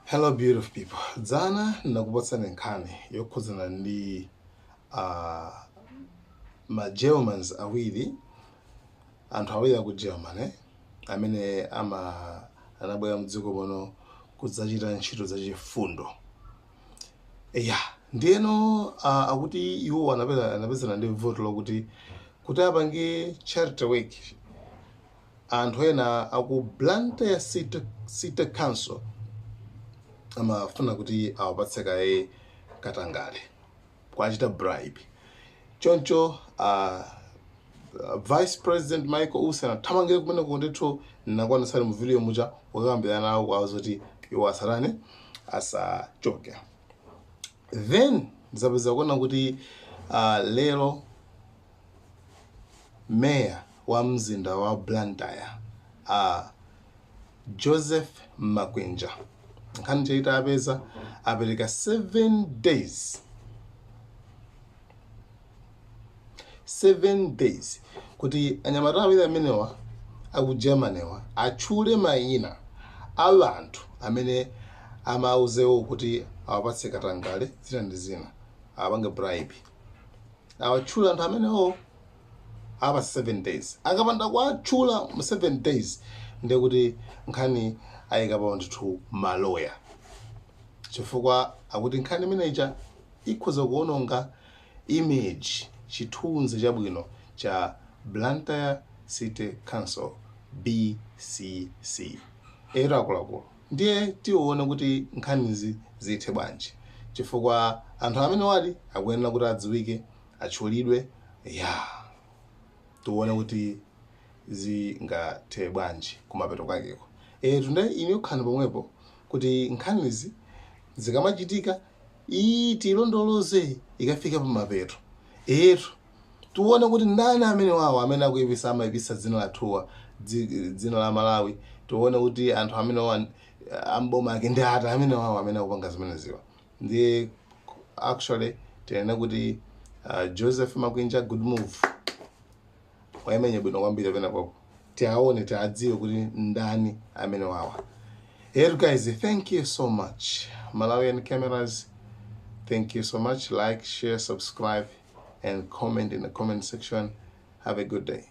Hello beautiful people. Dzana ndinakupatsani nkhani yokhudzana ndi uh, ma Germans awiri anthu awiri aku German eh? amene ama anabwera mdziko muno kudzachita ntchito zachifundo ya ndiyeno uh, akuti iwo anapeza anapezana ndi vuto lokuti kuti apange charity work anthu ena aku Blantyre city, city council amafuna kuti awapatse kaye katangale kwachita bribe choncho uh, vice president michael usi anathamangire kumene kundithu nakuonetsani mu video muja kukambirana nawo kuwauza kuti iwo asatani asachoke then ndizapeza kuona kuti uh, lero meya wa mzinda wa Blantyre a Joseph Makwinja nkhani ija itawapeza apereka 7 days 7 days kuti anyamata awiri amenewa aku Germany wa atchule mayina a anthu amene amawauzawo kuti awapatse katangale zina ndi zina awapange bribe awatchule anthu amenewo apa 7 days akapanda kuwatchula mu 7 days ndiye kuti nkhani ayikapo ndithu maloya chifukwa akuti nkhani imene ija ikhoza kuononga image chithunzi chabwino cha Blantyre City Council BCC etu akuluakulu ndiye tione kuti nkhanizi zithe bwanji chifukwa anthu amenewadi akuyenera kuti adziwike atchulidwe ya tione kuti zingathe bwanji kumapeto kwakeko etu nde ine ndikhala pomwepo kuti nkhanizi zikamachitika iyi tilondoloze ikafika pamapeto etu tione kuti ndani amenewawo amene akuipisa amaipisa dzina lathuwa dzi- dzina la malawi tione kuti anthu amenewa amboma ake ndi ati amenewawo amene akupanga zimeneziwa ndiye actually tinene kuti uh, joseph makwinja good move wayimenya bwino kwambiri penapake tiaone tiadziwe kuti ndani amenewawa Hey guys, thank you so much. Malawian cameras, thank you so much. Like, share, subscribe, and comment in the comment section. Have a good day.